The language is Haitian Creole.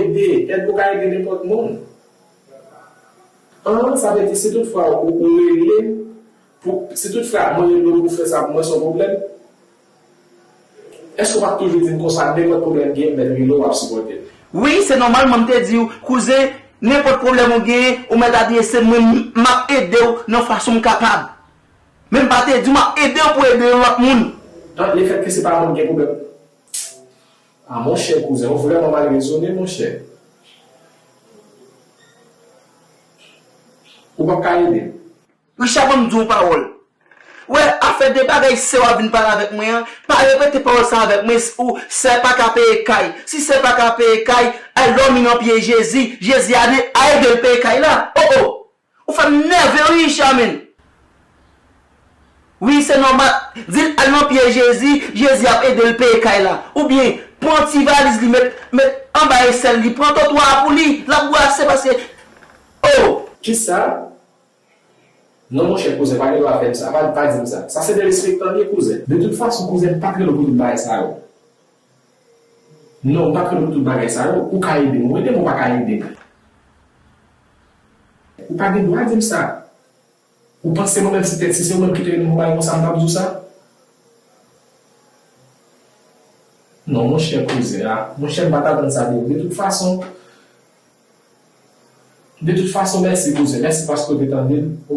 Ede, Èd ou ka ede nenpòt moun. 1, Sa vle di si tout fwa ou ou rele m pou si tout fwa mwen rele w pou fè sa pou mwen se yon pwoblèm? Èske ou pa p toujou di m konsa nenpòt pwoblèm m gen mèt rele w wap sipòte m? Wi, se nòmal mwen m te di w kouzen nenpòt pwoblèm ou genyen ou mèt adrese m mwen m ap ede w nan fason m kapab. Men m pa te di w m ap ede w pou ede yon lòt moun. 1, Lefètke se pa mwen m gen pwoblèm. Ah monchè kouzen ou vrèman mal rezone monchè ou pap ka ede l. Richard banm di w yon pawòl ou wè afè de bagay sè w ap vin pale avèk mwen an pa repete pawòl sa avèk mwen ou sè pa ka peye kay si sè pa ka peye kay al dòmi nan pye jezi jezi a ede l peye kay la oh oh Ou fèm nève wi Charmine. Wi se nòmal Dil al nan pye Jezi Jezi ap edel peye kay la ou byen pran ti valiz li met met anba esèl li pran totwa a pou li lap bwase paske oh. Kisa non monchè kouzen pa gen dwa fèm sa pa dim sa sa se derespektan liye kouzen. De tout fason kouzen m pat rele w pou tout bagay sa yo. Non m pa kwè nan tout bagay sa yo, ou ka edem ou edem ou pa ka edem. Ou pa gen dwa dim sa. Ou panse mwen menm ti tèt si se ou menm ki te edem pou bagay konsa m tap di w sa? Non monchè koze a, monchè m pat atann sa de ou de tout fason, de tout fason mèsi kouzin, mèsi paske ou te tande m.